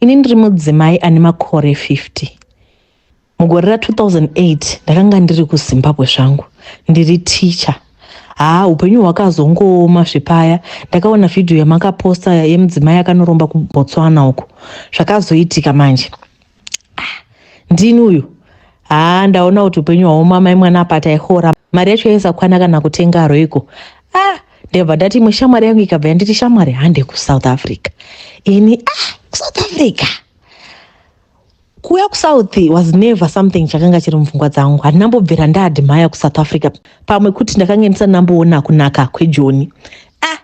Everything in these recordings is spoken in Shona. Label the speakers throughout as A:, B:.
A: Ini ndiri mudzimai ane makore 50. Mugore ra 2008 ndakanga ndiri kuZimbabwe zvangu ndiri teacher. Haa upenyu hwakazongooma zvepaya ndakaona vhidhiyo yamakaposta yemudzimai akanoromba kuBotswana uko zvakazoitika manje. ndini uyu haa ndaona kuti upenyu hwaoma mai mwana apa taihora mari yacho yaisakwana kana kutenga aroiko ah ndebva ndati imwe shamwari yangu ikabva yanditi shamwari hande kusouth africa ini ah kusouth africa kuuya kusouth was never something chakanga chiri mupfungwa dzangu handinambobvira ndaadmaya kusouth africa pamwe kuti ndakange ndisanamboona kunaka kwejoni ah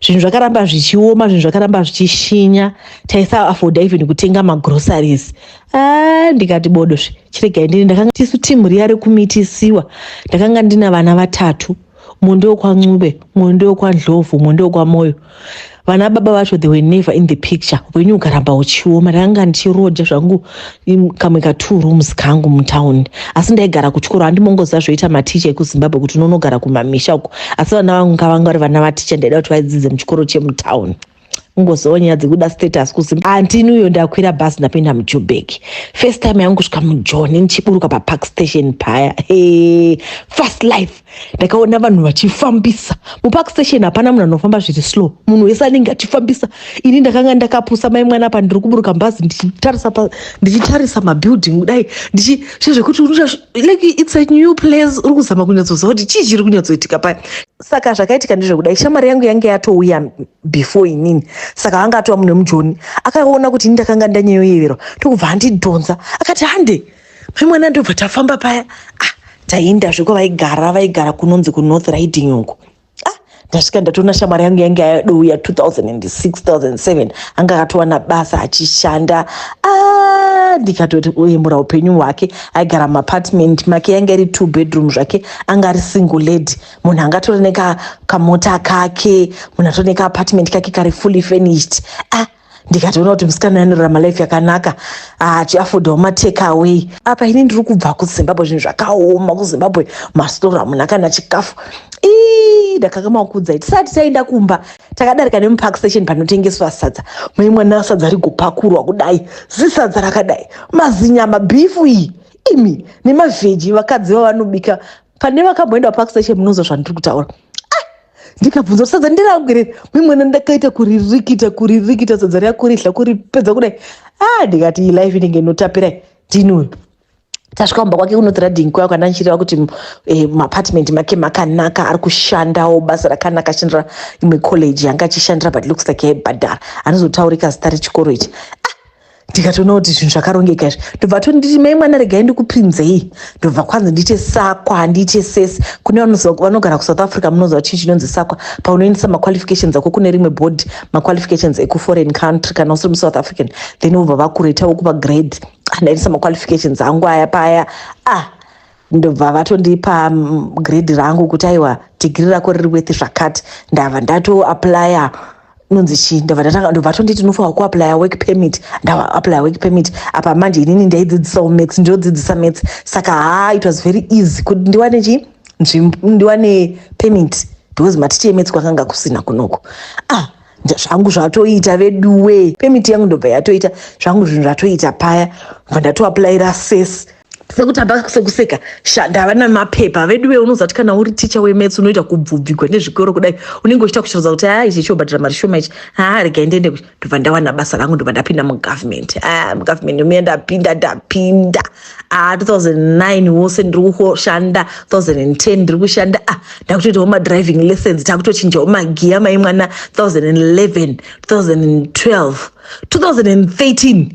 A: zvinhu zvakaramba zvichioma zvinhu zvakaramba zvichishinya taisaafodha even kutenga magroceries ah, ndikati bodo zve chiregai ndini ndakanga tisu timu riya rekumitisiwa ndakanga ndina vana vatatu mumwe ndewekwancube mumwe ndewekwadlovu mumwe ndewekwamoyo vana baba vacho they were never in the picture upenyu ukaramba uchioma ndakanga ndichiroja zvangu kamwe ka two rooms kangu mutown asi ndaigara kuchikoro handimongozva zvoita maticha ekuzimbabwe kuti unonogara kumamisha uko asi vana vangu ngavanga vari vana vaticha ndaida kuti vaidzidze muchikoro chemutown ngozowo nyaya dzekuda status kuzi antini uyo ndakwira bhasi ndapinda mujubek first time yangu kusvika mujoni ndichiburuka papark station paya hey, fast life ndakaona vanhu vachifambisa mupark station hapana munhu anofamba zviri slow munhu wese anenge achifambisa ini ndakanga ndakapusa mai mwana apa ndiri kuburuka mbazi ndichitarisa ndichitarisa mabuilding kudai ndichizvekuti like its a new place uri kuzama kunyatsoziva kuti chii chiri kunyatsoitika paya saka zvakaitika ndezvekudai shamwari yangu yange yatouya before inini saka vanga atova mune mujoni akaona kuti ini ndakanga ndanyeyoyeverwa tokubva andidhonza akati hande mai mwana ndobva tafamba paya ah, taienda zveko vaigara vaigara kunonzi kunorth riding uko ah, ndasvika ndatoona shamwari yangu yange yadouya 2006 2007 anga akatowana basa achishanda ah, ndikatoti oyemura upenyu hwake aigara muapartment make yange iri two bedroom zvake anga ari single lady munhu anga atori nekamota kake munhu atori nekaapartment kake kari fully furnished ah, ndikatoona kuti musikana uyu anorarama life yakanaka achiafodawo ah, matake away apa ini ndiri kubva kuzimbabwe zvinhu zvakaoma kuzimbabwe mastora hamuna kana chikafu ii ndakakama kuudzai tisati taenda kumba takadarika nemupark station panotengeswa sadza mai mwana sadza rigopakurwa kudai zisadza rakadai mazinyama bhifu iyi imi nemavheji vakadzi vavanobika pane vakamboenda park station munonzwa zvandiri kutaura ah! ndikabvunza sadza ndirangwirei mimwena ndakaita kuririkita kuririkita sadza riya kuridla kuripedza kudai a ah, ndikati iyi life inenge inotapirai ndinwe tasvika kumba kwake kunoti radhing kwaya kwandanchireva kuti eh, maapartment make makanaka ari kushandawo basa rakanaka achishandira imwe college yanga achishandira but looks like yaibhadhara anozotaurika zita rechikoro ichi ah, ndikatoona kuti zvinhu zvakarongeka izvi ndobva tonditi mai mwana regai ndikupinzei ndobva kwanzi ndiite sakwa handiite sese kune vanogara kusouth africa munoziva chii chinonzi sakwa paunoendesa maqualifications ako kune rimwe board maqualifications ekuforeign country kana usiri musouth african then vobva vakuretawo kupa grade andaendesa maqualifications angu aya paya ah ndobva vatondipa mm, grade rangu kuti aiwa dhigiri rako riri wethi zvakati ndava ndatoaplya nonzi chii ndobva ndatanga ndobva atonditi unofanirwa kuaplya work permit ndaaplya work permit apa manje inini ndaidzidzisawo maths ndinodzidzisa maths saka haa it was very easy kuti ndiwane chii nzvimbo ndiwane permit because maticha emetsi kwakanga kusina kunoko ah nda- zvangu zvatoita veduwe pemiti yangu ndobva yatoita zvangu zvinhu zvatoita paya bva ndatoaplaira ses sekuti hapa sekuseka shanda havana mapepa veduve unozati kana uri ticha wemets unoita kubvubvigwa nezvikoro kudai unenge uchita kuchiroza kuti haa ichi chiobhadhira mari shoma ichi haa rega ndiende kuchi ndobva ndawana basa rangu ndobva ndapinda mugovernment a mugovernment muya ndapinda ndapinda a 2009 wose ndiri kushanda 2010 ndiri kushanda a ndakutoitawo madriving lessons takutochinjawo magiya mai mwana 2011 2012 2013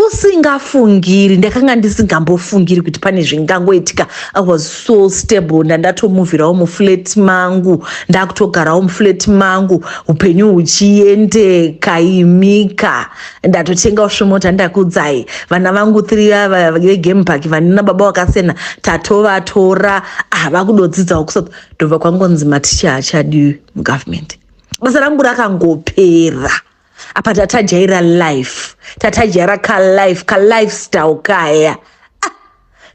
A: usingafungiri ndakanga ndisingambofungiri kuti pane zvingangoitika i was so stable ndandatomuvhirawo muflat mangu ndakutogarawo muflat mangu upenyu huchiendeka imika ndatotengawo svemota ndakudzai vana vangu three vava vegame park vanina baba vakasiyana tatovatora ah vakudodzidzawo kusouth ndobva kwangonzi maticha achadiwi mugovernment basa rangu rakangopera apa tatajaira life tatajaira kalife kalifestyle kaya ah,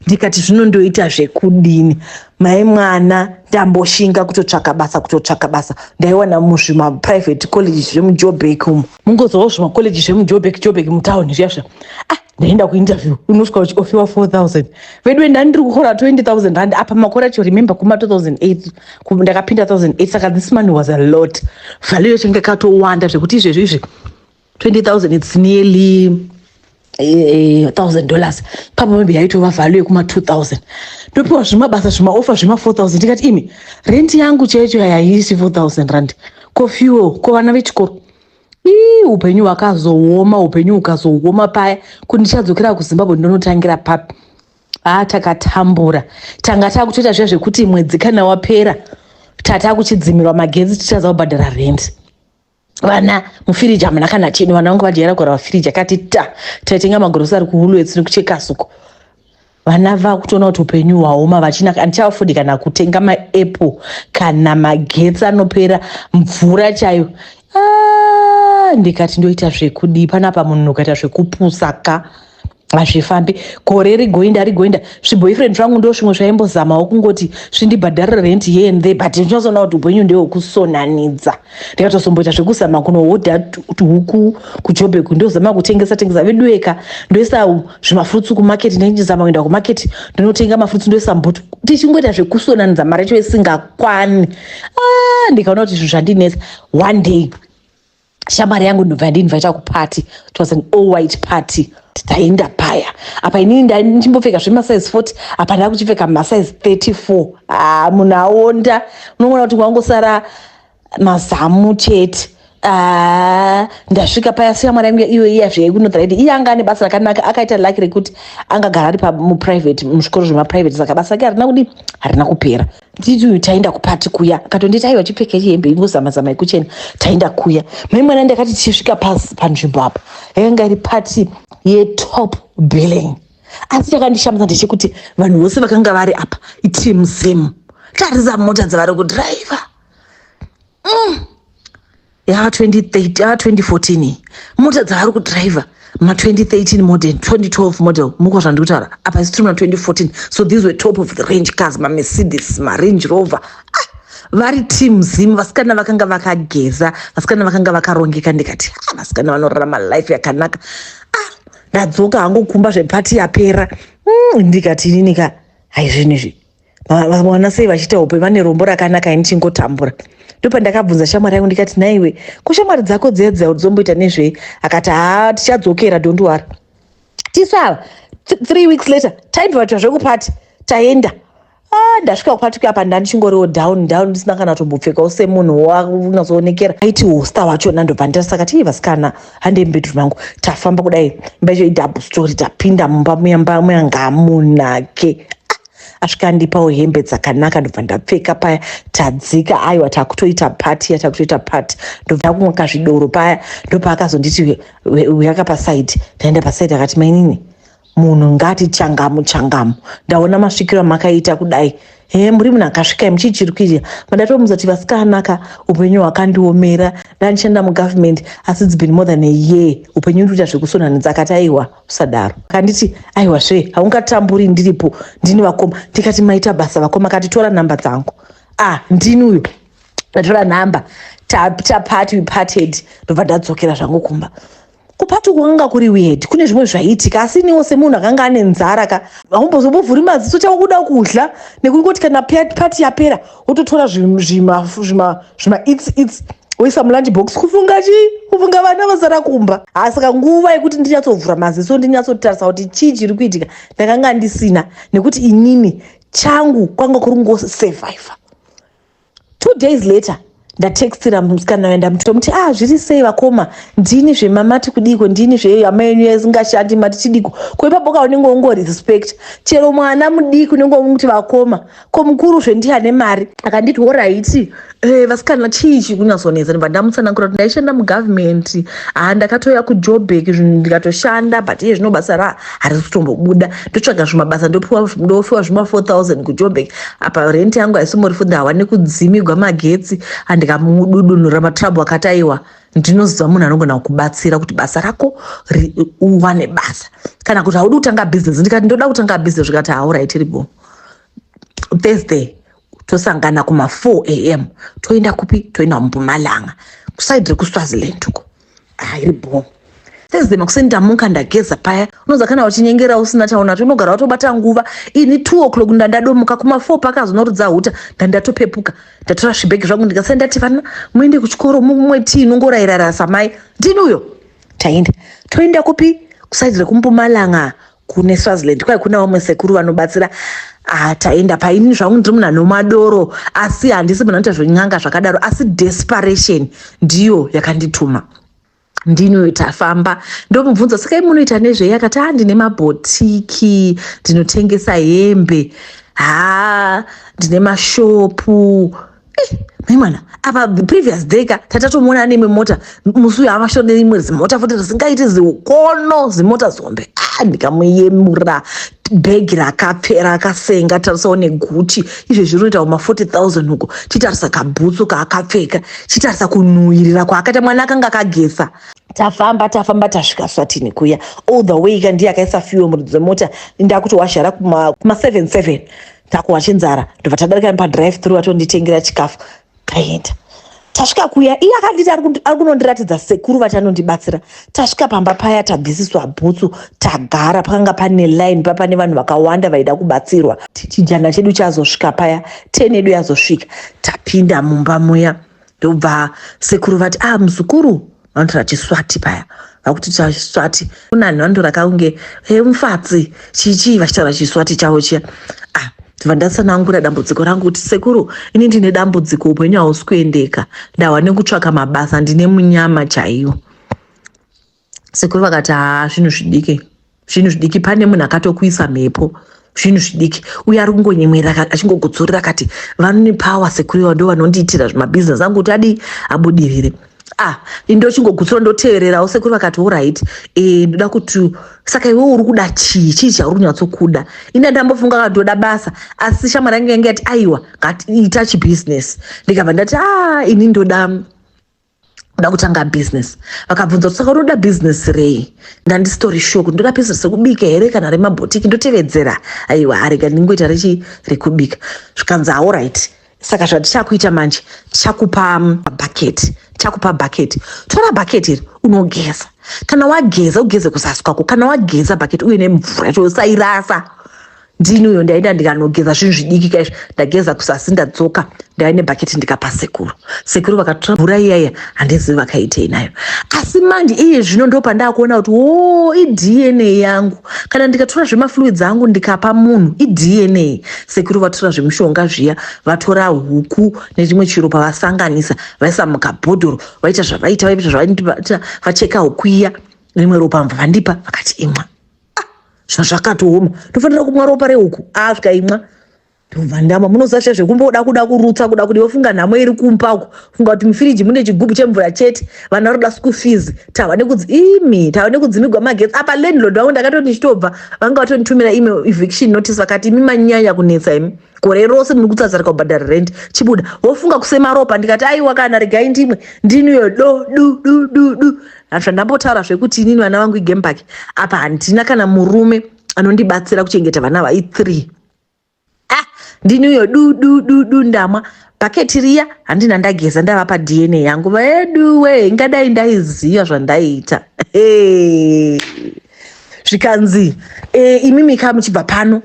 A: ndikati zvino ndoita zvekudini mai mwana ndamboshinga kutotsvaka basa kutotsvaka basa ndaiwana muzvimaprivate college zvemujoburg umu mungozovawo zvimacollege zvemujoburg joburg mutown zviya zviya ah, ndaenda kuinterview unosvika uchiofiwa 4000 veduwe ndandiri kuhora 20000 rand apa makore acho remember kuma 2008 ku- ndakapinda 2008 saka this money was a lot value yacho inge katowanda zvekuti izvezvi izvi 20000 its nearly eh, thousand dollars papa maybe yaitova value yekuma 2000 ndopiwa zvimabasa zvimaofa zvema 4000 ndikati imi rent yangu chaicho yayaisi 4000 rand ko fuel ko vana vechikoro ii upenyu hwakazooma upenyu hukazooma paya kuti ndichadzokera kuzimbabwe ndonotangira papi haa takatambura tanga takutoita zviya zvekuti mwedzi kana wapera tata kuchidzimirwa magetsi tichaza kubhadhara rendi vana mufiriji hamuna kana cheni vana vangu vadyara kora vafiriji akati ta taitenga magorosi ari kuhulwetsi nekuchekasuko vana vakutoona kuti upenyu hwaoma vachina handichavafundi kana kutenga maapple kana magetsi anopera mvura chayo ah, ndikati ndoita zvekudii panapa munhu ukaita zvekupusa ka hazvifambi gore rigoinda rigoinda zviboyfriend zvangu ndo zvimwe zvaimbozamawo kungoti zvindibhadharira rent here and there but ndinozoona kuti upenyu ndehwekusonanidza ndikatozomboita zvekuzama kunohodha tuhuku kujobeku ndozama kutengesa tengesa veduweka ndoisa zvimafrutsu kumarket ndinechizama kuenda kumarket ndinotenga mafrutsu ndoisa mbutu tichingoita zvekusonanidza mari yacho isingakwani ah, ndikaona kuti zvinhu zvandinetsa one day shamwari yangu ndobva ndinvaita kupati it was an all white party taienda paya apa inini ndaichimbopfeka zvemasize 40 apa ndava kuchipfeka masize 34 haa munhu aonda unomona kuti kwangosara mazamu chete Ah, ndasvika paya siya mwana yangu iyo iya zveikunodhara iti iye anga ane basa rakanaka akaita laki rekuti angagara ari muprivate muzvikoro zvemaprivate saka basa rake harina kudi harina kupera nditi uyu taenda kupati kuya akatonditi aiwa chipfeka hembe ingozama zama yekuchena taenda kuya mai mwana ndakati tichisvika pasi panzvimbo apa yakanga iri pati yetop billing asi chakandishamisa ndechekuti vanhu vose vakanga vari apa itimu same tarisa mota dzavari kudhiraivha mm. ya 2013 ya 2014 mota dzaari kudriver ma 2013 model 2012 model muko zvandiri kutaura apa isi tiri ma 2014 so these were top of the range cars mamercedes marange rover ah, vari team zim vasikana vakanga vakageza vasikana vakanga vakarongeka ndikati ah, vasikana vanorarama life yakanaka ah, ndadzoka hangu kumba zvepati yapera mm, ndikati inini ka haizvinizvi vakaona sei vachiita hope vane rombo rakanaka ini chingotambura ndopandakabvunza shamwari yangu ndikati naiwe ko shamwari dzako dziya dziya dzomboita nezvei akati haa tichadzokera dondiwara tisava three weeks later taibvavatwa zvekupati taenda ah, ndasvika kupati kuya pa ndandichingoriwo down down ndisina kana tombopfekawo semunhu waunyazoonekera aiti hosta wachona ndobva ndasaka tii vasikana handei mubedroom mangu tafamba kudai mba icho idouble story tapinda mumba muyambamuya ngamunake asvika andipawo hembe dzakanaka ndobva ndapfeka paya tadzika aiwa takutoita pati yatakutoita pati ndobva akumwa kazvidoro paya ndopaakazonditi uyaka pasaidi ndaenda pasaidi akati mainini munhu ngati changamu changamu ndaona masvikiro amakaita kudai he muri munhu akasvikai muchichirikirira mandatomuza kuti vasikanaka upenyu hwakandiomera ndandichenda mugovernment asi it's been more than a year upenyu ndikuita zvekusonanidza akati aiwa usadaro kanditi aiwa zve haungatamburi ndiripo ndini vakoma ndikati maita basa vakoma kati tora nhamba dzangu ah ndini uyo ndatora nhamba tapati we parted ndobva ndadzokera zvangu kumba kupati kwakanga kuri weird kune zvimwe zvaiitika asi iniwo semunhu akanga ane nzara ka haumbozobovhuri maziso chakuda kudya nekungoti kana pati yapera wototora zvimaits its woisa mulunch box kufunga chii kufunga vana vasara kumba haa saka nguva yekuti ndinyatsovhura maziso ndinyatsotarisa kuti chii chiri kuitika ndakanga ndisina nekuti inini changu kwanga kuri kungosurviva two days later ndatextira musikana uya ndamuti tomuti ah zviri sei vakoma ndini zvemamati kudiko ndini zvehama yenyu yasingashandi mati chidiko ko ipapo ka unenge ungorespect chero mwana mudiki unenge umuti vakoma ko mukuru zve ndiye ane mari akanditi horaiti e, eh, vasikana chii chikunyasonetsa ndibva ndamutsanangura kuti ndaishanda mugovernment haa ndakatouya kujobek zvinhu ndikatoshanda but iye zvino basa ra harisi kutombobuda ndotsvaga zvimabasa ndofiwa zvima 4000 kujobek apa renti yangu haisomori fudha hawane kudzimigwa magetsi andikamududunura matrabhu akati aiwa ndinoziva munhu anogona kukubatsira kuti basa rako uwane basa kana kuti haudi kutanga bhizinesi ndikati ndoda kutanga bhizinesi zvikati hauraitiribo thursday tosangana kuma 4 am toenda kupi toenda kumpumalanga kusaidi rekuswaziland uko hairi bho thursday makuseni ndamuka ndageza paya unoza kana uchinyengera usina chaunacho unogara watobata nguva ini two o'clock ndandadomuka kuma four pakazonorudza huta ndandatopepuka ndatora zvibhegi zvangu ndikasai ndati vana muende kuchikoro mumwe tii inongorairara samai ndini uyo taenda toenda kupi kusaidi rekumpumalanga kune swaziland kwai kuna vamwe sekuru vanobatsira ah, taenda paini zvangu ndiri munhu anomadoro asi handisi munhu anoita zvenyanga zvakadaro asi desperation ndiyo yakandituma ndinoyo tafamba ndomubvunza saka i munoita nezvei akati a ah, ndine mabhotiki ndinotengesa hembe haa ndine mashopu Eh, mai mwana apa the previous day ka tatatomuona ane imwe mota musi uyo avashonere imwe zimota futi risingaiti ziukono zimota zombe ah, ndikamuyemura bhegi rakapfera akasenga tarisawo neguchi izvo zviri kuita kuma 40000 uko chitarisa kabhutsu kaakapfeka chitarisa kunhuhirira kwaakaita mwana akanga akagesa tafamba tafamba tasvika swatini kuya all the way ka ndiye akaisa fuel muridzo mota ndakuti wazhara kuma 77 takuhwa chenzara ndobva tadarika nepadrive through atonditengera chikafu taenda tasvika kuya iye akanditi ari kunondiratidza sekuru vati anondibatsira tasvika pamba paya tabvisiswa bhutsu tagara pakanga pane line pa pane vanhu vakawanda vaida kubatsirwa chijana chedu chazosvika paya ten edu yazosvika tapinda mumba muya ndobva sekuru vati ah muzukuru vanotora chiswati paya vakuti chiswati kunani vanotora kaunge e mufatsi chichii vachitaura chiswati chavo chiya ah ndibva ndatsanangura dambudziko rangu kuti sekuru ini ndine dambudziko upenyu hausi kuendeka ndahwa nekutsvaka mabasa ndine munyama chaiyo sekuru vakati haa zvinhu zvidike zvinhu zvidiki pane munhu akatokuisa mhepo zvinhu zvidiki uye ari kungonyemwerera achingogutsurira akati vanone power sekuriwa ndo vanondiitira zvemabhizinesi angu kuti adii abudirire ah indochingogutsura ndotevererawo sekuru vakati orit e, ndoda kuti saka iwe uri kuda chii chii chauri kunyatsokuda ine ndambofunga ka ndoda basa asi shamwari yange yange yati aiwa ngatiita chibusiness ndikabva ndati a ah, ini ndoda kuda kutanga business vakabvunza kuti saka unoda business rei ndandisitori shuwa kuti ndoda business rekubika here kana remabhotiki ndotevedzera aiwa arega ndingoita rechi rekubika zvikanzi aorit saka zvatichakuita manje tichakupa um, bucket tichakupa bucket tora bucket iri unogeza kana wageza ugeze kuzasi kwako kana wageza bucket uye nemvura yacho usairasa ndini uyo ndaenda ndikanogeza zvinhu zvidiki kaizvo ndageza kusasi ndadzoka ndaive nebhaketi ndikapa sekuru sekuru vakatora mvura iyaya handizivi vakaitei nayo asi mandi iye zvino ndo pandaakuona kuti wo idna yangu kana ndikatora zvemafluids angu ndikapa munhu idna sekuru vatora zvemushonga zviya vatora huku nechimwe chiro pavasanganisa vaisa mukabhodhoro vaita zvavaita vaita zvavaita vacheka huku iya rimwe ropa mva vandipa vakati imwa ah, zvazvakatooma tofanira kumwa ropa rehuku asvika imwa ndovandama munozasha zvekumboda kuda kurutsa kuda kuti vofunga nhamo iri kumpa uku funga kuti mufiriji mune chigubhu chemvura chete vana roda school fees tava nekudzi imi tava nekudzimigwa magetsi apa landlord vangu ndakatoti ndichitobva vanga vatonditumira ime eviction notice vakati imi manyanya kunetsa imi gore rose muri kutsazarika kubhadhara rent chibuda vofunga kusema ropa ndikati aiwa kana regai ndimwe ndiniyo do du du du du Hanzi ndambotaura zvekuti inini vana vangu igame park apa handina kana murume anondibatsira kuchengeta vana vai three ah ndini uyo du du du du ndamwa bhaketi riya handina ndageza ndava padna yangu veduwe ingadai ndaiziva zvandaiita zvikanzi e, imimi kaa muchibva pano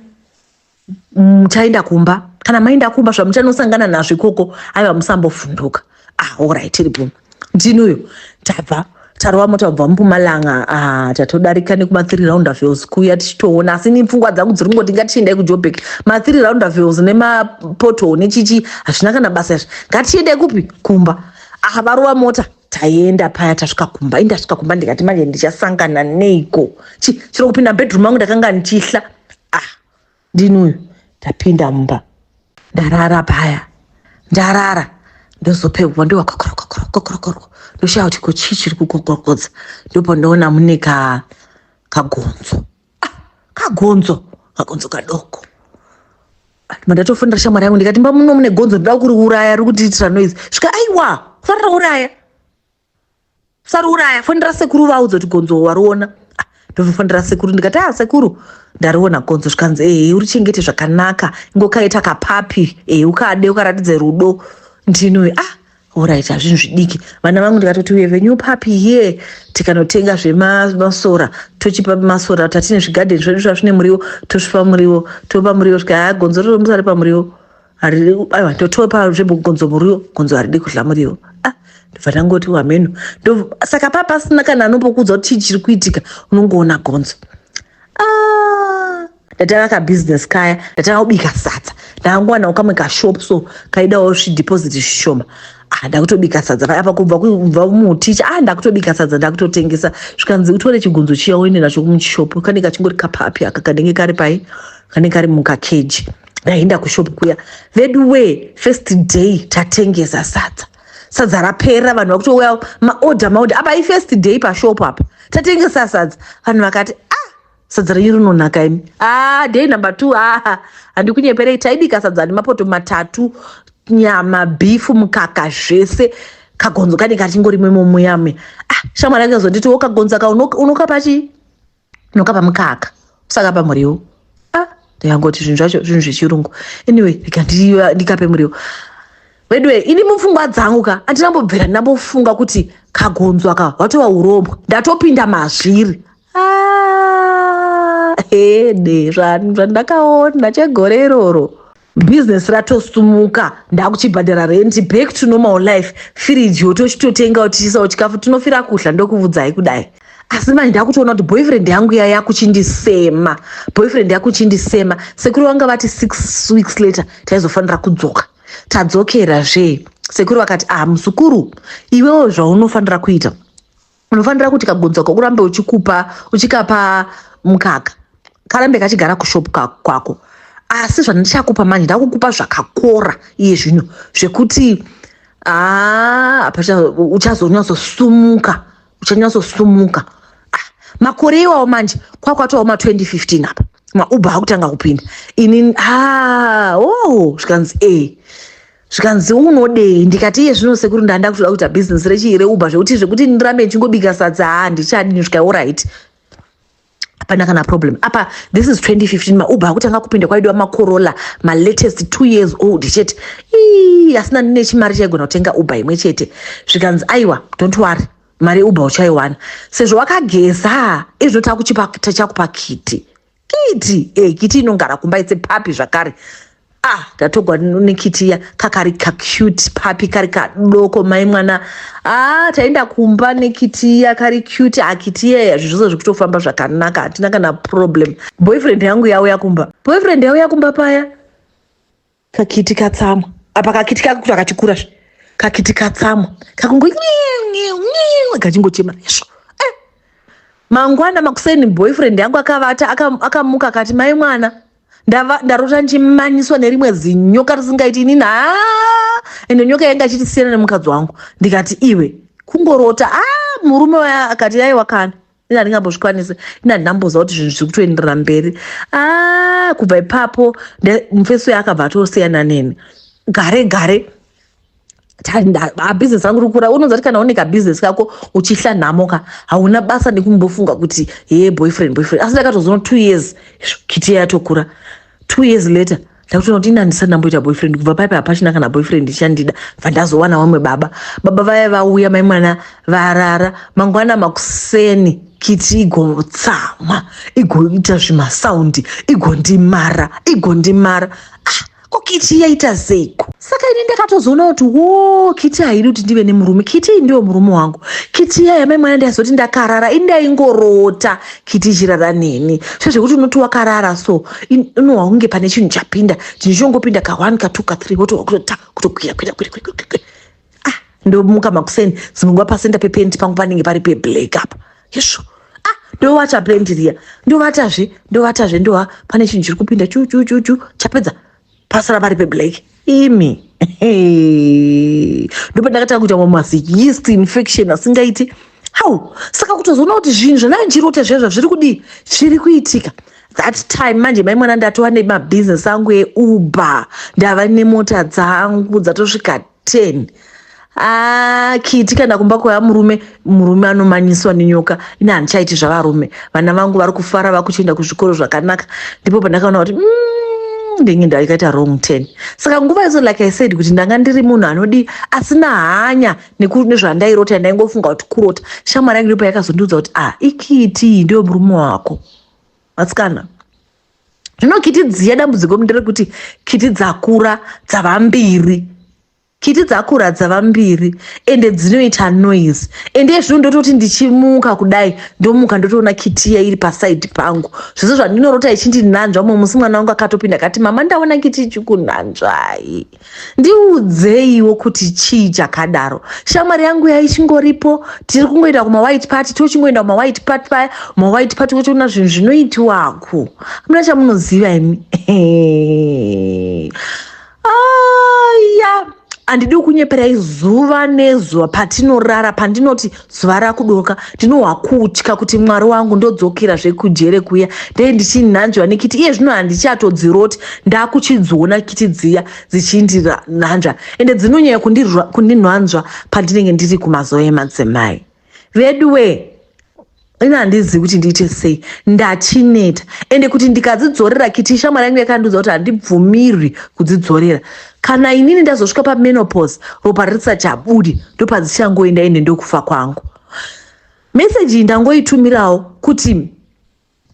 A: muchaenda kumba kana maenda kumba zvamuchanosangana nazvo ikoko aiwa musambovhunduka ah orit tiri bvuma ndini uyo tabva tarova mota kubva mupumalanga ah, tatodarika nekuma three round avels kuya tichitoona asi ni pfungwa dzangu dziri kungoti ngatichiendai kujobek ma three round avels nemapoto nechichi hazvina kana basa izvi ngatichiendai kupi kumba ah varova mota taienda paya tasvika kumba indasvika kumba ndikati manje ndichasangana neiko chiro kupinda bedroom angu ndakanga ndichihla ah ndini uyu ndapinda mumba ndarara paya ndarara ndozopegwa ndoakokorokokorokokorokoroko ndoshaya kuti ko chii chiri kukokorokodza ndopandoona mune ka kagonzo ah, kagonzo kagonzo kadoko mandatofonera shamwari yangu ndikati mba muno mune gonzo ndoda kuriuraya riri kutiitira noise svika aiwa kufanira uraya saruuraya fonera sekuru vaudzo kuti gonzo wariona ah, ndozofonera sekuru ndikati a ah, sekuru ndariona gonzo zvikanzi ehe eh, urichengete zvakanaka ingokaita kapapi ehe eh, ukade ukaratidze rudo ndinoe ah orit hazvinhu zvidiki vana vangu ndikatoti uye venyu papi here tikanotenga zvemasora tochipa masora tatine zvigadheni zvedu zvazvine muriwo tosvipa muriwo topa muriwo svika gonzo rinomusari pamuriwo haridi kubaiwa ndotiwe panzvimbo gonzo muriwo gonzo haridi kudla muriwo ah ndobva ndangoti wameno saka paa pasina kana anombokudza kuti chii chiri kuitika unongoona gonzo ah, ndatanga kabusiness kaya ndatanga kubika sadza ndakangowana ukamwe kashop so kaidawo zvideposit zvishoma ah, ndakutobika sadza paya pa kubva kubva muticha ah ndakutobika sadza ndakutotengesa zvikanzi utore chigunzo chiya uende nacho kumuchishopu kanenge kachingori kapapi aka kanenge kari pai kanenge kari mukakeji ndaenda kushop kuya vedu wee first day tatengesa sadza sadza rapera vanhu vakutouya maorder maorder apa ifirst day pashop apa tatengesa sadza vanhu vakati ah sadza renyu rinonaka imi ah day number two ah handikunyeperei taibika sadza nemapoto matatu nyama bhifu mukaka zvese kagonzo kane kachingori mwemomuyamuya ah shamwari yake zonditi wo kagonzo ka unokapa chii unokapa mukaka usakapa muriwo ah, ndikangoti zvinhu zvacho zvinhu zvechirungu anyway ndikape muriwo veduwe ini mupfungwa dzangu ka andina mbobvira ndinambofunga kuti kagonzwa ka watova urombwa ndatopinda mazviri ah, hede zvandakaona chegore iroro business ratosumuka ndakuchibhadhara rent back to normal life firiji yotochitotengawo tichiisawo chikafu tinofira kuhla ndokuvudzai kudai asi manje ndakutoona kuti boyfriend yangu iya yakuchindisema boyfriend yakuchindisema sekuru vanga vati six weeks later taizofanira kudzoka tadzokera zvee sekuru vakati ah musukuru iwewo zvaunofanira kuita unofanira kuti kagonzo kako urambe uchikupa uchikapa mukaka karambe kachigara kushop kwako asi zvandichakupa manje ndakukupa zvakakora iye zvino zvekuti ah, uchazonyatsosumuka uchanyatsosumuka ah, makore iwawo manje kwakwatowa ma 2015 apa mauber akutanga kupinda ini ah, oh, zvikanzi e eh, zvikanzi unodei ndikati iye zvino sekuru ndanda kutoda kuita bhizinesi rechii reuber zvekuti zvekuti ndirambe ndichingobika sadza haa ndichadini zvika orit hapana kana problem apa this is 2015 mauber akutanga kupinda kwaidiwa macorolla malatest two years old chete ii asina ndine chimari chaigona kutenga uber imwe chete zvikanzi aiwa don't worry mari yeuber uchaiwana sezvo wakageza izvo takuchipa chakupakiti kiti eh, kiti inongara kumba itse papi zvakare ah ndatogwa nekitiya kakari kacute papi kari kadoko mai mwana ah taenda kumba nekitiya kari cute akitiyeya ah, zvi zvose zvekutofamba zvakanaka hatina kana problem boyfriend yangu yauya kumba boyfriend yauya kumba paya kakiti katsamwa apa kakiti kake kuti akatikura zve kakiti katsamwa kakungo kachingochema izvo eh, mangwana makuseni boyfriend yangu akavata akamuka akati mai mwana ndarota ndichimanyiswa nerimwe zinyoka risingaiti ini na ende nyoka yanga achiti siyana nemukadzi wangu ndikati iwe kungorota a ah, murume waya akati yaiwa kana ini handingambozvikwanisi ini handinamboziva kuti zvinhu zviri kutoenderera mberi a ah, kubva ipapo mufesi uyo akabva atosiyana neni gare gare abhizinesi rangu rikura unonza kuti kana une kabhizinesi kako uchihla nhamo ka hauna basa nekumbofunga kuti hee boyfriend boyfriend asi ndakatozono two years kiti yatokura two years later ndakutoona kuti ini handisati ndamboita boyfriend kubva paipa hapachina kana boyfriend ichandida bva ndazowana wamwe baba baba vaya vauya mai mwana varara mangwana makuseni kiti igotsamwa igoita zvimasaundi igondimara igondimara ah, ko kiti yaita seiko saka ini ndakatozoona kuti wo kiti haidi kuti ndive nemurume kiti iyi ndiwo murume wangu kiti iya yamai mwana ndiyazoti ndakarara ini ndaingorota kiti ichirara neni so zvekuti unoti wakarara so unohwa kunge pane chinhu chapinda chinhu chongopinda ka one ka two ka three wotohwa kutota kutokwira kwira kwira kwira kwira kwira ah ndomuka makuseni dzimwe nguva pasenda pepenti pangu panenge pari peblack apa yesvo ah ndovata pendi riya ndovatazve ndovatazve ndoha pane chinhu chiri kupinda chuchuchuchu chapedza pasara vari peblack imi ndopandakatanga kuita mamwe masi yeast infection asingaiti how saka kutozoona kuti zvinhu zvanandirota zviya zvazviri kudii zviri kuitika that time manje mai mwana ndatova nemabhizinesi angu euber ndava nemota dzangu dzatosvika 10 haa kii tikaenda kumba kwaya murume murume anomanyiswa nenyoka ini handichaiti zvavarume vana vangu vari kufara vakuchienda kuzvikoro zvakanaka ndipo pandakaona kuti mm, ndenge ndakaita wrong ten saka nguva izo like i said kuti ndanga ndiri munhu anodii asina hanya nezvandairota ndaingofunga kuti kurota shamwari yangu ndipo yakazondiudza kuti ah ikiti ndiyo murume wako matsikana zvino kiti dziya dambudziko nderekuti kiti dzakura dzava mbiri kiti dzakura dzava mbiri ende dzinoita noise ende ezvino ndototi ndichimuka kudai ndomuka ndotoona kitiya iri pasaidi pangu zvese zvandinorota ichindinanzva mumwe musi mwana wangu akatopinda akati mama ndaona kiti ichikunanzvai ndiudzeiwo kuti chii chakadaro shamwari yangu yaichingoripo tiri kungoenda kumawhite party tochingoenda kumawhite party paya mawhite party wotoona zvinhu zvinoitiwako amuna chamunoziva imi aya andidi kunyeperai zuva nezuva patinorara pandinoti zuva rakudoka ndinohwakutya kuti mwari wangu ndodzokera zvekujere kuya ndee ndichinhanzviwa nekiti iye zvino handichatodziroti ndakuchidziona kiti dziya dzichindihanzva ende dzinonyaya kundinhanzva pandinenge ndiri kumazuva emadzimai vedu wee ini handizivi kuti ndiite sei ndachineta ende kuti ndikadzidzorera kiti ishamwari yangu yakandiudza kuti handibvumirwi kudzidzorera kana inini ndazosvika pamenopause ropa risati abudi ndopadzichangoenda ende ndokufa kwangu meseji iyi ndangoitumirawo kuti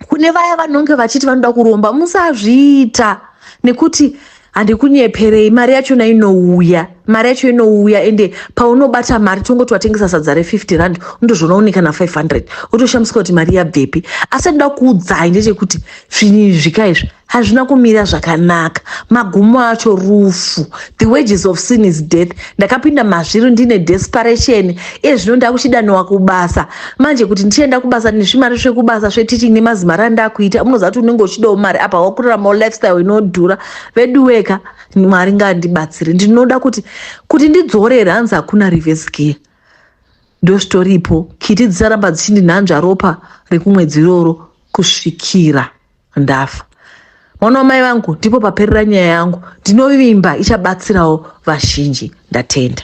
A: kune vaya vanonge vachiti vanoda kuromba musazviita nekuti handikunyeperei mari yachona inouya mari yacho inouya ende paunobata mari tongoti watengesa sadza re50 rand undozvona une kana 500 wotoshamisika kuti mari yabvepi asi anoda kuudzai ndechekuti zvinhu izvi zvika izvi hazvina kumira zvakanaka magumo acho rufu the wages of sin is death ndakapinda mazviro ndine desperation iye zvino ndakuchidaniwa kubasa manje kuti ndichienda kubasa nezvimari zvekubasa zveteaching nemazimari andakuita unoziva kuti unenge uchidawo mari apa wakuraramawo lifestyle inodhura veduweka mwari ngaandibatsire ndinoda kuti kuti ndidzorere hanzi hakuna reverse gear ndosvitoripo kiti dzisaramba dzichindinhanzva ropa rekumwedzi iroro kusvikira ndafa mwana wamai vangu ndipo paperera nyaya yangu ndinovimba ichabatsirawo vazhinji ndatenda